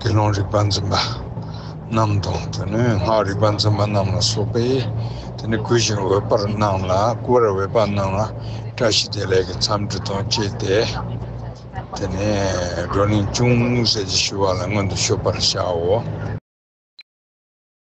དགེ་སློང་རིག་པ་འཛིན་པ་རྣམས་དང་དེ་ནས་སྔགས་རིག་པ་འཛིན་པ་རྣམས་ལ་སོགས་པས་དེ་ནས་བསྐུལ་ཞིང་འོས་པར་གནང་ལ་བསྐུལ་བར་འོས་པ་རྣམས་ལ་བཀྲ་ཤིས་བདེ་ལེགས་ཀྱི་འཚམས་འདྲི་དང་བཅས་ཏེ་དེ་ནས་བགྲོ་གླེང་ཅུང་ཟད་ཅིག་ཞུ་བ་ལ་སྔོན་དུ་ཤོད་པར་བྱའོ།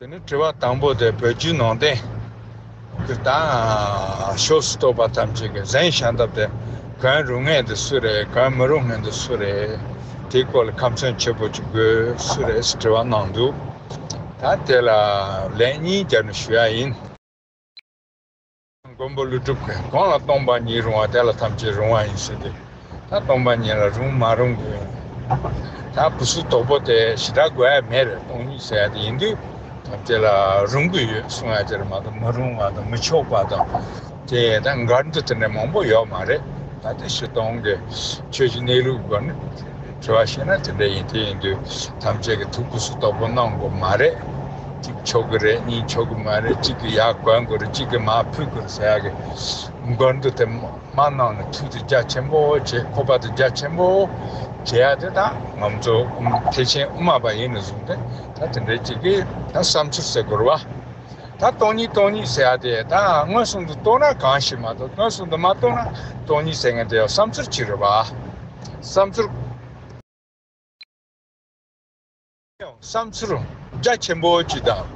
དེ་ནས་དྲི་བ་དང་པོ་དེ་བོད་བརྒྱུད་ནང་བསྟན་གྱི་དང་ཤོག་སུ་གཏོགས་པ་ཐམས་ཅད་ཀྱི་གཟན་ཤ་འདབ་དེ་གང་རུང་ངེས་འདི་སུ་རེད་གང་མི་རུང་ངེས་འདི་སུ་རེད་དེའི་སྐོར་ལ་ཁམས་མཚོན་བྱེད་པོ་ཅིག་དགོས་སུ་རེད་ཟེར་དྲི་བ་གནང་འདུག་ད་དེ་ལ་ལན་གཉིས་རྒྱབ་ནས་ཞུ་ཡག་ཡིན། མགོན་པོ་ལུས་གྲུབ་ཀྱིས་གང་ལ་སྟོང་པ་ཉིད་རུང་བ་དེ་ལ་ཐམས་ཅད་རུང་བ་ཡིན་ཞེས་ཏེ། ད་སྟོང་པ་ཉིད་ལ་རུང་མ་རུང་གི་ད་བུ་སུ་དོག་པོ་དེ་ཞི་དྲག་དགོས་ཡ་མེད་རེད་སྟོང་ཉིད་ཟེར་ཡ་དེ་ཡིན་དུས་ཐམས་ཅད་ལ་རུང་གི་ཡོད་གསུང་ཡ་དེ་རེད་མ་གཏོགས་མི་རུང་བ་དང་མི་ཆོག་པ་དང་དེ་ད་མགར་འདུག་དེ་འདྲ་མང་པོ་ཡོད་མ་རེད་ད་དེ་ཞིག་སྟོང་གི་ཆོས་ཀྱི་གནས་ལུགས་དགོས་ན། དྲི་བ་བྱས་ན་དེ་འདྲ་ཡིན་དེ་ཡིན་དུས་ཐམས་ཅད་ཀྱི་ཐུགས་ཀུ་སུ་དོག་པོ་གནང་དགོས་མ་རེད། གཅིག་ཆོག་གི་རེད་གཉིས་ཆོག་གི་མ་རེད་གཅིག་གི་ཡག་གོན་དགོས་རེད་གཅིག་གི་མ་ཕུད་དགོས་རེད་ཟེར་ཡག་གི་མགོན་དུ་དེ་མ་གནང་ནས་ཐུགས་དུ་རྒྱ་ཆེན་པོ་བྱེད་ཁོ་པ་དུ་རྒྱ་ཆེན་པོ་བྱེད་ཡག་དེ་དང་ང་ཚོ་ཐེག་ཆེན་དབུ་མ་པ་ཡིན་ནས་བཟུང་སྟེ་ད་དེ་འདྲའི་གཅིག་གི་ད་བསམ་ཚུལ་ཟེར་དགོས་རེད་བ། ད་སྟོང་ཉིད་སྟོང་ཉིད་ཟེར་ཡག་དེ་ད་སྔོན་སོང་དུ་སྟོང་ན་གང་ཞིག་མ་གཏོགས་སྔོན་སོང་དུ་མ་སྟོང་ན་སྟོང་ཉིད་ཟེར་མཁན་དེ་བསམ་ཚུལ་གཅིག་རེད་བ། བསམ་ཚུལ། བསམ་ཚུལ། རྒྱ་ཆེན་པོ་གཅིག་དང།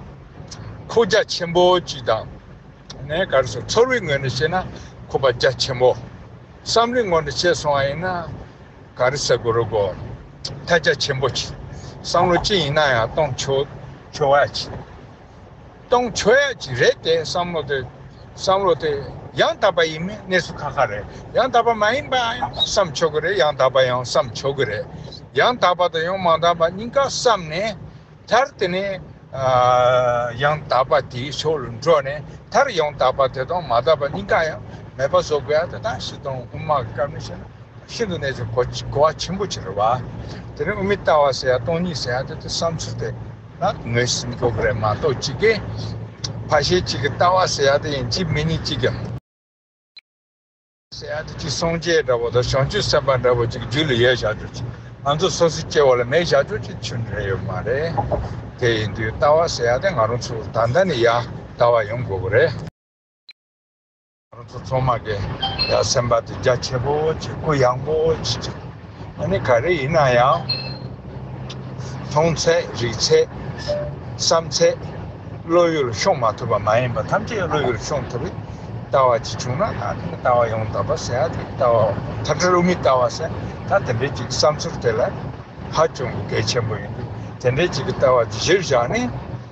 ཁུག་རྒྱ་ཆེན་པོ་གཅིག་དང། ངས་ག་རེ་བྱུང་ཚོར་བའི་ངོས་ནས་བཤད་ན་ཁུག་པ་རྒྱ་ཆེན་པོ། བསམ་བློའི་ངོས་ནས་བྱས་སོང་བ་ཡིན་ན། ག་རེ་ཟེར་དགོས་རུ་གོ། ཐལ་རྒྱ་ཆེན་པོ་གཅིག། བསམ་བློ་ཅི་ཡིན་ན་ཡང་གཏོང་ཆོག་ཆོག་བ་གཅིག། གཏོང་ཆོས་ཀྱི་རེད་དེ་བསམ་བློ་དེ། བསམ་བློ་དེ། ཡང་དག་པ་ཡིན་མིན་གནས་ཚུལ་ཁ་ཁ་རེད། ཡང་དག་པ་མ་ཡིན་པ་ཡང་བསམ་ཆོག་གི་རེད་ཡང་དག་པ་ཡང་བསམ་ཆོག་གི་རེད། ཡང་དག་པ་དང་ཡང་མ་དག་པ་གཉིས་ཀ་བསམ་ནས། མཐར་དེ་ནས། ཡང་དག་པ་དེའི་ཕྱོགས་ལ་འགྲོ་ནས་མཐར་ཡང་དག་པ་དེ་དང་མ་དག་པ་གཉིས་ཀ་ཡང་མེད་པ་བཟོ་དགོས་ཡ་དེ་དག་ཤི་དང་དབུ་མ་གི་བཀའ་མི་ཤེས་ན་ཤིན་ཏུ་ནས་ཀྱི་གོ་བ་ཆེན་པོ་ཆེ་རེད་བ། དེ་ནས་དབུ་མའི་ལྟ་བ་ཟེར་ཡ་སྟོང་ཉིད་ཟེར་ཡ་དེ་དེ་བསམ་ཚུལ་དེ། ད་ངོས་ཟིན་རྒྱོབ་རེད་མ་གཏོགས་གཅིག་གིས་ཕ་ཤེལ་གཅིག་གི་ལྟ་བ་ཟེར་ཡག་དེ་ཡིན་གཅིག་མི་ནི་གཅིག་གི། ཟེར་ཡག་དེ་གཅིག་སངས་རྒྱས་འདྲ་བོ་དང་བྱང་ཆུབ་སེམས་དཔའ་འདྲ་བོ་གཅིག་རྒྱུད་ལ་ཡོད་བཞག་རྒྱུ་གཅིག་ང་ཚོ་སོ་སོའི་སྐྱེ་བོ་ལ་མེད་བཞག་རྒྱུ་གཅིག་ཆོས་འདྲ་ཡོད་མ་རེད། དེ་ཡིན་དུས་ལྟ་བ་ཟེར་ཡག་དེ་ང་རང་ཚོ་ད་ལྟ་ནས་ཡག་ལྟ་བ་ཡོང་དགོས་པ་རེད། ཁོང་ཚོ་ཚང་མ་གི་ཡང་སེམས་པ་དེ་རྒྱ་ཆེ་པོ་བྱེད་སྐུ་ཡངས་པོ་བྱེད་ཅིག་ཨ་ནི་ག་རེ་ཡིན་ན་ཡང་མཐོང་ཚད་རིག་ཚད་བསམ་ཚད་བློ་ཡུལ་ཤོང་མ་ཐུབ་པ་མ་ཡིན་པ་ཐམས་ཅད་བློ་ཡུལ་ཤོང་ཐུབ་པའི་ལྟ་བ་ཅིག་བྱུང་ན་ད་ཐེངས་ཀྱི་ལྟ་བ་ཡང་དག་པ་ཟེར་ཡ་དེ་ལྟ་བ་མཐའ་བྲལ་དབུ་མའི་ལྟ་བ་ཟེར་ད་དེ་འདྲའི་ཅིག་བསམ་ཚུལ་དེ་ལ་ཧ་ཅང་གི་གལ་ཆེན་པོ་ཡིན་འདུག་དེ་འདྲའི་ཅིག་གི་ལྟ་བ་གཞིར་བཞག་ནས།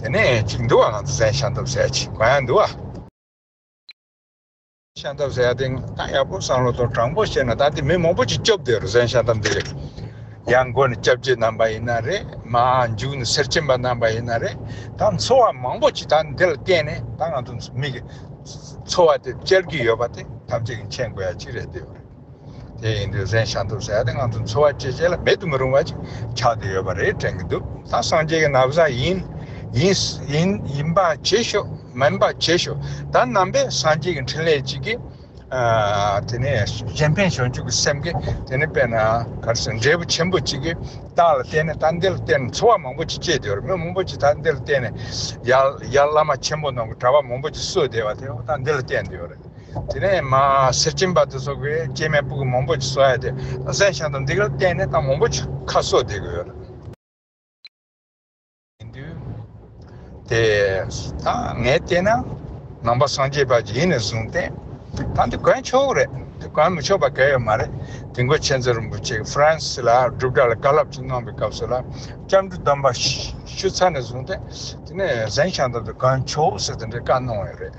དེ་ནས་གཅིག་འདུ་བ་ང་ཚོ་ཟས་ཤ་འདབ་ཟས་ཅིག་མ་ཡང་འདུ་བ། ཤ་འདབ་ཟས་དེ་ད་ཡག་པོ་བསམ་བློ་དང་དྲང་པོ་བྱས་ན་ད་ལྟའི་མི་མང་པོ་ཅིག་སྐྱོབ་བསྡད་རུང་ཟས་ཤ་འདབ་འདི་རེད། ཡང་སྒོ་ནས་སྐྱབས་རྗེ་རྣམ་པ་ཡིན་ན་རེད་མ་མཇུག་ནས་སེར་སྐྱེམས་པ་རྣམ་པ་ཡིན་ན་རེད་ད་འཚོ་བ་མང་པོ་ཅིག་ད་འདི་ལ་བརྟེན་ནས་ད་ང་ཚོ་མིག་གི་འཚོ་བ་དེ་བསྐྱལ་གྱི་ཡོད་པ་དེ་ཐམས་ཅད་ཀྱི་མཁྱེན་དགོས་ཡ་གཅིག་རེད་འདི་ཡོད་རེད། དེ་ཡིན་དུས་གཟན་ཤ་འཐུ་ཟེར་ཡ་དེ་ང་ཚོ་འཚོ་བ་སྐྱེལ་བྱེད་ལ་མེད་དུ་མི་རུང་བ་ཅིག་ཆགས་དུ་ཡོད་པ་རེད་དྲན་གྱི་འདུག་ད་སངས་རྒྱས་ཀྱི་ན་བཟའ་ཡིན། ཡིན། ཡིན་པ་བྱེད་ཤོག་མིན་པ་བྱེད་ཤོག་ད་རྣམ་པས་སངས་རྒྱས་ཀྱི་འཕྲིན་ལས་ཅིག་གིས། དེ་ནས་གཞན་ཕན་བྱང་ཆུབ་ཀྱི་སེམས་ཀྱིས་དེ་ནས་དཔེར་ན་གལ་སྲིད་འབྲས་བུ་ཆེན་པོ་ཅིག་གིས་བདག་ལ་བསྟན་ནས་ད་འདི་ལ་བརྟེན་ནས་འཚོ་བ་མང་པོ་ཅིག་སྐྱེལ་དུ་ཡོད་རེད་མི་མང་པོ་ཅིག་ད་འདི་ལ་བརྟེན་ནས་ཡར་བླ་མ་ཆེན་པོ་རྣམས་ཀྱི་གྲྭ་པ་མང་པོ་ཅིག་གསོས་བསྡད་པ་དེ་ད་འདི་ལ་བརྟེན་དུ་ཡོད་རེད། དེ་ནས་མ་སེར་སྐྱེམས་པ་དེ་སོགས་ཀྱིས་སྐྱེས་མའི་སྤུ་གུ་མང་པོ་ཅིག་གསོ་ཡ་དེ་གཟན་ཤང་དང་འདེགས་ལ་བརྟེན་ནས་ད་མང་པོ་ཅིག་ཁ་གསོ་བདེ་དགོས། ཡིན་དུས། དེ་ད་ངས་བལྟས་ན། ནང་པ་སངས་རྒྱས་པ་ཇི་ཡིན་ནས་བཟུང་སྟེ། ད་འདི་གོན་ཆོག་རེད་དེ་གོན་མི་ཆོག་པ་གལ་ཡོད་མ་རེད། དེ་མགོན་ཆེན་ཚེ་རིང་པོ་ཆེ་ཧྥུ་རན་སི་ལ་སྒྲུབ་གྲྭ་ལ་བཀའ་སླབ་ཅིག་གནང་པའི་སྐབས་སུ་ལ་སྐྱབས་འགྲོ་གདམས་པ་ཞུ་ཚར་ནས་བཟུང་སྟེ། དེ་ནས་གཟན་ཤང་དང་དུ་གོན་ཆོག་ཟེར་དེ་འདྲའི་བཀའ་གནང་བ་ཡོད་རེད།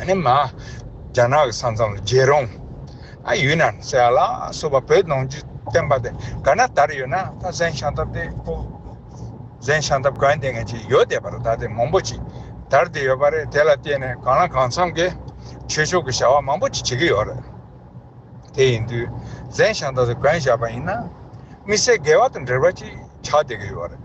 ཨ་མ། རྒྱ་ནག་གི་ས་མཚམས་ལ་རྒྱལ་རོང། ཨ་ཡུན་ནན་སེ་ཨ་ལ་སོགས་པ་བོད་ནང་སྤྱི་བསྟན་པ་དེ་ག་ན་དར་ཡོད་ན་ད་གཟན་ཤང་ཐབ་དེ་པོ། གཟན་ཤང་ཐབ་གང་དེ་ངན་ཅིག་ཡོད་བསྡད་པ་རེད་ད་དེ་མང་པོ་ཅིག་དར་བསྡད་ཡོད་པ་རེད་དེ་ལ་བརྟེན་ནས་གང་ལ་གང་འཚམས་ཀྱི་ཆོས་ཕྱོགས་ཀྱི་བྱ་བ་མང་པོ་ཅིག་བྱེད་ཀྱི་ཡོད་རེད། དེ་ཡིན་དུས་གཟན་ཤང་ཐབ་དེ་གང་བཞག་པ་ཡིན་ན་དམིགས་བསལ་འགལ་བ་དང་འབྲེལ་བ་ཅིག་ཆགས་བསྡད་ཀྱི་ཡོད་རེད།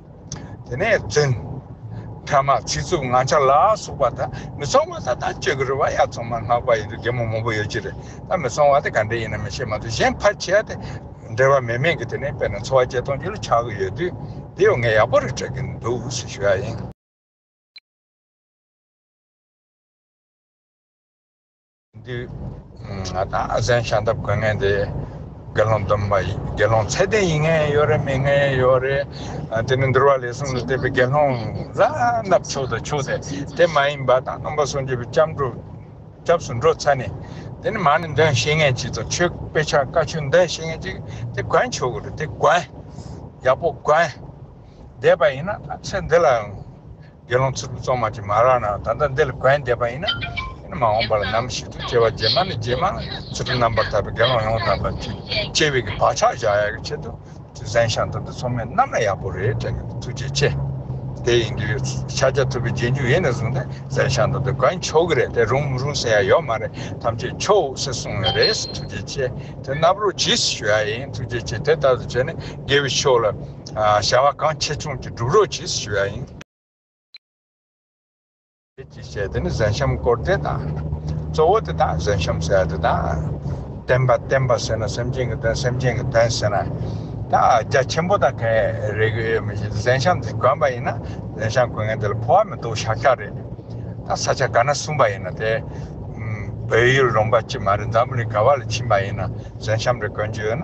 དེ་ནས་བཙུན། བྷྲ་མ་ཚིག་རྩུབ་ངང་ཆ་ལ་སོགས་པ་དག་མི་ཚོང་བ་དག་དང་བཅས་གུར་བ་ཡར་ཚང་མར་མངགས་པ་ཡིན་དུ་རྒན་མོ་མང་པོ་ཡོད་ཀྱི་རེད་ད་མི་ཚོང་བ་དེ་ག་འདྲས་ཡིན་ནམ་ཤེས་མ་ཐུབ་གཞན་ཕར་ཆེར་དེ་འབྲེལ་བ་མེད་མིན་གྱི་དེ་ནས་དཔེར་ན་འཚོ་བ་སྐྱེལ་གཏོང་རྒྱུ་ལ་ཆགས་ཀྱི་ཡོད་དུས་དེ་ཡོད་ངས་ཡག་པོ་རེ་སྤྲད་ཀྱི་འདུག་ཟེར་ཞུ་ཡ་ཡིན། འདིར་ང་དང་ཨ་ཟན་ཤ་འདབ་དགོས་ངེས་དེ། དགེ་སློང་སྡོམ་པ་ཡིན་དགེ་སློང་ཚད་ལྡན་ཡིན་ངེས་ཡོད་རེད་མིན་ངེས་ཡོད་རེད། དེ་ནི་འདུལ་བ་ལས་གསུམ་ལ་བལྟས་པའི་དགེ་སློང་བཟའ་ལྔ་ཕྱུག་དང་ཕྱུག་དེ་དེ་མ་ཡིན་པ་དང་སྟོང་པ་སུམ་ཅུ་པའི་སྐྱབས་འགྲོ་སྐྱབས་སུ་འགྲོ་ཚར་ནས། དེ་ནི་མ་ནི་འདོན་ཤེས་ངེས་ཅིག་དང་ཆོས་དཔེ་ཆ་བཀའ་ཆོས་འདོན་ཤེས་ངེས་ཅིག་དེ་གོན་ཆོག་གི་རེད་དེ་གོན། ཡག་པོ་གོན། བསྡད་པ་ཡིན་ན་ཚེ་འདི་ལའང། དགེ་སློང་ཚིལ་བུ་བཙོ་མ་ཅིག་མ་རག་ན་ད་ལྟ་འདི་ལ་གན་འདེབས་པ་ཡིན་ན། མ་འོངས་པ་ལ་ནམ་ཞིག་ཏུ་སྐྱེ་བ་རྗེས་མ་ནས་རྗེས་མ་ཚིལ་བུ་རྣམ་པར་དག་པའི་དགེ་སློང་ཡོངས་དག་པ་དེས་སྐྱེ་བའི་བག་ཆགས་བཞག་ཡག་གི་ཆེད་དུ་དེ་གཟན་ཤང་དུ་འདི་ཚོ་མི་རྣམས་ལ་ཡག་པོ་རེད་དྲན་གི་འདུག་ཐུགས་རྗེ་ཆེ། དེ་ཡིན་དུས་ཕྱག་རྒྱ་ཐུབ་པའི་རྗེས་འཇུག་ཡེ་ནས་བཟུང་སྟེ་གཟན་ཤང་དུ་འདི་གན་ཆོག་གི་རེད་དེ་རུང་མི་རུང་ཟེར་ཡ་ཡོད་མ་རེད་ཐམས་ཅད་ཆོག་ཟེར་གསུངས་ཡོད་རེད་ཐུགས་རྗེ་ཆེ་དེ་རྣ་བར་རོ་གྱིས་ཞུ་ཡ་ཡིན་ཐུགས་རྗེ་ཆེ་དེ་ལྟར་དུ་བྱས་ནས་དགེ་བའི་ཕྱོགས་ལ། བྱ་བ་གང་ཆེ་ཆུང་ཅི་སྒྲུབ་རོགས་གྱིས་ཞུ་བ་ཡིན། ཁྱེད་ཀྱིས་བཤད་དེ་ནི་གཟན་ཤམ་བསྐོར་ཏེ་དང། གཙོ་བོ་དེ་དང་གཟན་ཤམ་ཟེར་དེ་དང། བསྟན་པ་བསྟན་པ་ཟེར་ན་སེམས་ཅན་གྱི་དོན་སེམས་ཅན་གྱི་དོན་ཟེར་ན། ད་རྒྱ་ཆེན་པོ་དང་གས་རེ་གི་ཡོད་མི་ཤེས་ཏེ་གཟན་ཤམ་དེ་གོན་པ་ཡིན་ན་གཟན་ཤམ་གོན་མཁན་དེ་ལ་ཕོ་བ་མི་འདུག་ཤག་ཤག་རེད། ད་ས་ཆ་ག་ན་གསུངས་པ་ཡིན་ན་དེ། བོད་ཡུལ་རོང་པ་གཅིག་མ་རེད་འཛམ་བུ་གླིང་ག་བ་ལ་ཕྱིན་པ་ཡིན་ན་གཟན་ཤམ་རེ་གོན་རྒྱུ་ཡོད་ན།